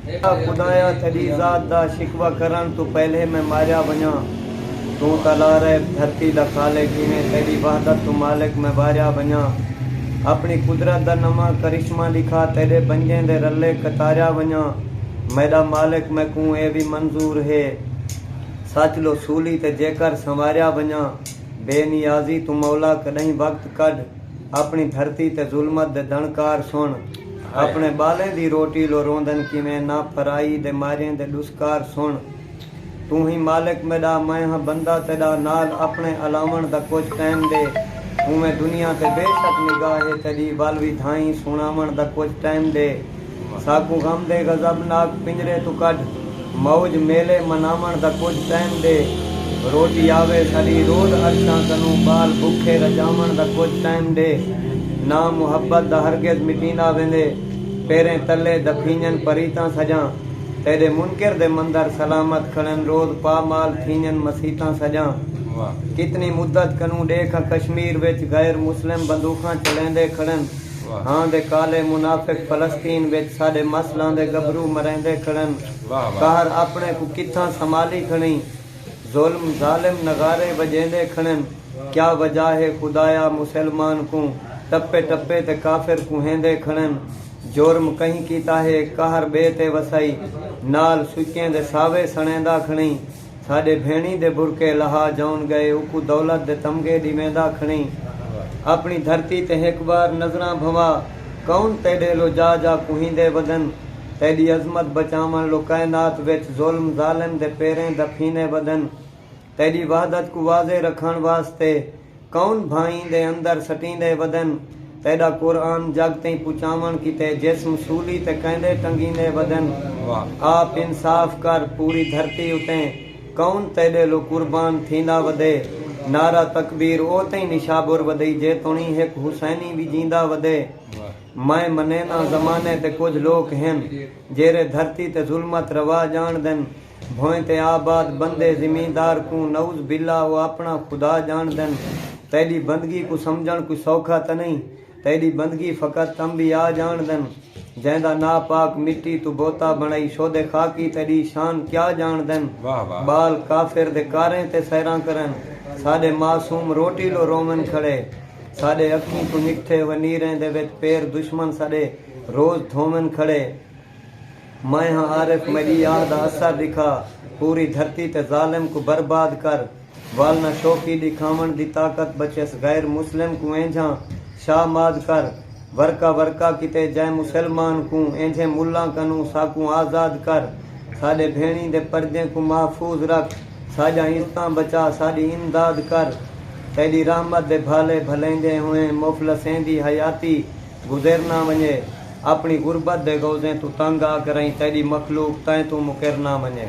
اے خدایا تیݙی ذات دا شکوہ کرݨ توں پہلے میں ماریا ونڄاں، توں تاں لا رہب دھرتی دا خالق ہیویں تیݙی وحدت توں مالک میں واریا ونڄاں، اپݨی قدرت دا نواں کرشمہ ݙکھا تیݙے بنجیں دے رلے کتاریا ونڄاں، میݙا مالک میکوں اے وی منظور ہے سچ لو سولی تے جیکر سنواریا ونڄاں، بے نیازی توں مولا کݙاہیں وقت کڈھ۔ اپݨی دھرتی تے ظلمت دے دݨکار سݨ اپݨے ٻالیں دی روٹی لو روندن کیویں نا پھرائی دے ماریں دے ݙسکار سݨ توں ہی مالک میݙا میں ہاں بندہ تیݙا نال اپݨے الاوݨ دا کجھ ٹائم ݙے اونویں دنیا تے بے شک نگاہ ہے تیݙی ول وی دھائیں سݨاوݨ دا کجھ ٹائم ݙے ساکوں غم دے غضب ناک پنجرے توں کڈھ موج میلے مناوݨ دا کجھ ٹائم ݙے روٹی آوے ساݙی روز عرشاں کنوں ٻال بکھے رڄاوݨ دا کجھ ٹائم ݙے نا محبت دا ہرگز مٹیندا ویندے پیریں تلے دفینڄن پریتاں سڄاں تیݙے منکر دے مندر سلامت کھڑن روز پا مال تھینڄن مسیتاں سڄاں کتنی مدت کنوں ݙیکھ آں کشمیر وچ غیر مسلم بندوخاں چلیندے کھڑن۔ وہاں دے کالے منافق فلسطین وچ ساڈے مسلاں دے گبرو مریندے کھڑن قہر اپنے کوں کتھاں سمالی کھڑیں ظلم ظالم نغارے وجیندے کھڑن کیا وجہ ہے خدایا مسلمان کوں ٹپے ٹپے تے کافر کوہیندے کھڑن جرم کہیں کیتا ہے قہر بے تے وسائی نال سچیں دے ساوے سنڑیندا کھڑیں۔ ساݙے بھیݨی دے برقعے لہا جون ڳئے اوکوں دولت دے تمغے ݙی ویندا کھڑیں اپݨی دھرتی تے ہک بار نظراں بھنوا کون تیݙے لو جا جا کوہیندے ودن تیݙی عظمت بچاوݨ لو کائنات وچ ظلم ظالم دے پیریں دفینے ودن تیݙی وحدت کوں واضح رکھݨ واسطے کون بھائیں دے اندر سٹیندے ودن تیڈا قرآن جگ تئیں پچاون کیتے جسم سولی تے کیندے ٹنگیندے ودن آپ انصاف کر پوری دھرتی اتے کون تیڈے لو قربان تھیندا ودے نعرہ تکبیر او تئیں نشابر ودئی جے تونی ہک حسینی وی جیندا ودے میں منینداں زمانے تے کجھ لوک ہن جیرے دھرتی تے ظلمت روا جانڑدن بھوئیں تے آباد بندے زمیندار کوں نعوذ باللہ او آپݨا خدا ڄاݨدن تیݙی بندگی کوں سمجھݨ کوئی سوکھا تاں نئیں تیݙی بندگی فقط انبیاء ڄاݨدن جیندا ناپاک مٹی توں بوتا بݨائی شودے خاکی تیݙی شان کیا ڄاݨدن ٻال کافر دے کاریں تے سیراں کرن ساݙے معصوم روٹی لو روون کھڑے ساݙے اکھیں توں نکھتے ہوئے نیریں دے وچ پیر دشمن ساݙے روز دھوون کھڑے۔ میں ہاں عارف مجیاہ دا اثر ݙکھا پوری دھرتی تے ظالم کوں برباد کر والنا شوقی ݙکھاوݨ دی طاقت بچیس غیر مسلم کوں اینجھاں شاہ ماد کر ورقہ ورقہ کیتے جئیں مسلمان کوں اینجھیں ملاں کنوں ساکوں آزاد کر ساݙے بھیݨیں دے پردیں کوں محفوظ رکھ ساݙیاں عزتاں بچا ساݙی امداد کر تیݙی رحمت دے بھالے بھلیندیں ہوئیں مفلسیں دی حیاتی گزر نہ ونڄے۔ اپݨی غربت دے غوضیں توں تنگ آ کرئیں تیݙی مخلوق تیں توں مکر نہ ونڄے۔